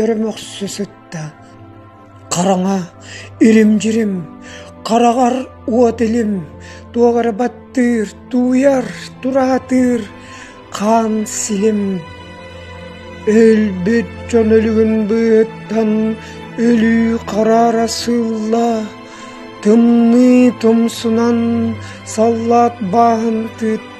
Өр мөхсө сытта, хараҥа, ирим-дьирим, хараҕар уот илим, туох эрэ баттыыр, тууйар, тураатыыр хаан силим. Өлбүт дьон өлүгүн быыһыттан өлүү хараара сыылла, тымныы тумсунан саллаат бааһын тыытта.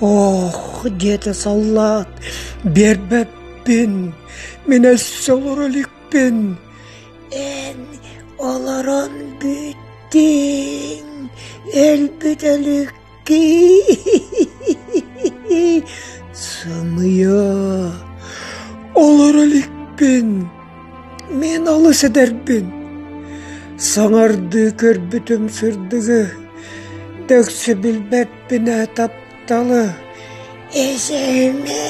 Ох, диэтэ саллаат, биэрбэппин, мин өссө олоро иликпин. Эн олорон бүттүҥ, өлбүт өлүк Сымыйа, олоро иликпин, мин олус эдэрбин. Саҥардыы көрбүтүм сырдыгы, дөксө билбэппин ээ тапталы. Эсэме!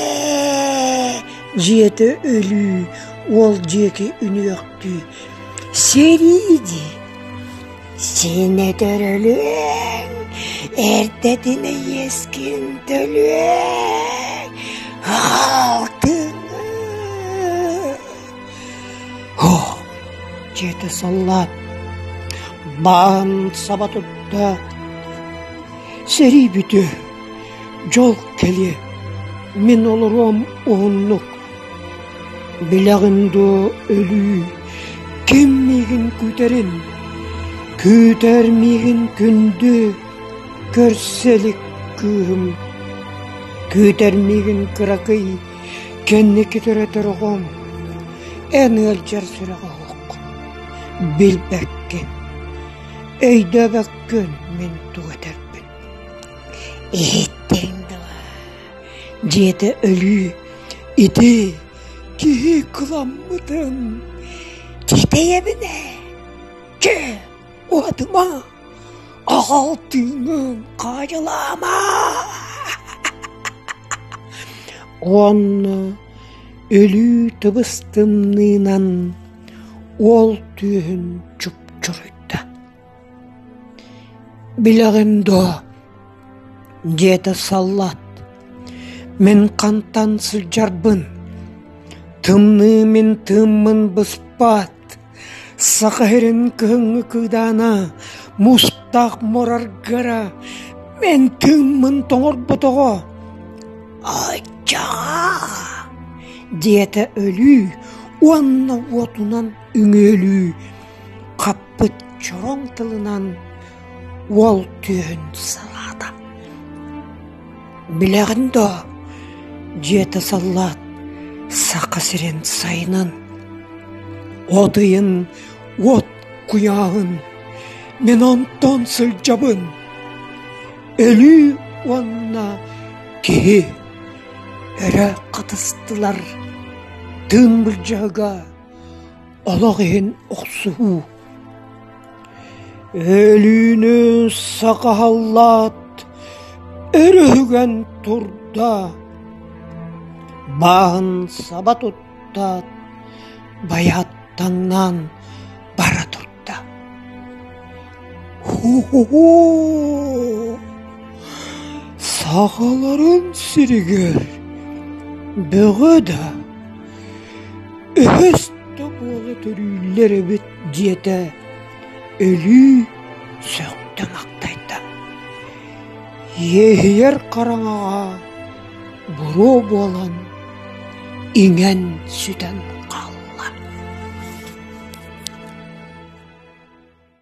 Дьиэтэ өлүү, уол дьиэки үнүөхтүү. Сэрииди! Синэтэр өлүөҥ, эрдэтинэ иэскин төлүөҥ, алтынын... Оһ, дьиэтэ саллаат, баан саба тутта, сэрии бүтүө, дьол кэлиэ, мин олоруом уһуннук. Билэҕин дуо өлүү ким миигин күүтэрин, күүтэр миигин күндү көрсө илик кыыһым, күүтэр миигин кыракый кэнники төрөтөр оҕом, эн ыалдьар сүрэҕэ оһох, билбэккин, өйдөөбөккүн мин тугу этэрбин иһиттиҥ дылы Дьиэтэ өлүү, ити киһи кыламмытын ситэйэбин ээ, чэ, уотума, аҕал тыынын хаадьылаама уонна өлүү тыбыс тымныынан уол түөһүн чупчуруйда Билэҕин дуо? диэтэ саллаат. Мин хантан сылдьарбын, тымныы мин тыыммын быспаат, Саха сирин кыһыҥҥы кыыдаана мустаах мораргара мин тыыммын тоҥорботоҕо. Аччаа! диэтэ өлүү уонна уотунан үҥүөлүү Хаппыт чороҥ тылынан уол түөһүн санаата: «Билэҕин доо, дьиэтэ саллаат Саха сирин сайынын, одуйун уот куйааһын мин онтон сылдьабын, өлүү уонна киһи өрө хатыстылар тыын былдьаһыга олох иһин охсуһуу Өлүүнү сакаһаллаат өрүһүгэн турда бааһын саба туттаат байааттаннаан бара турда Һу-һу-һу! Сахаларын сиригэр бөҕө да үһүс да буола төрүүллэр эбит диэтэ өлүү сөхтө мактайда. Иэһийэр хараҥаҕа буруо буолан иҥэн сүтэн хаалла.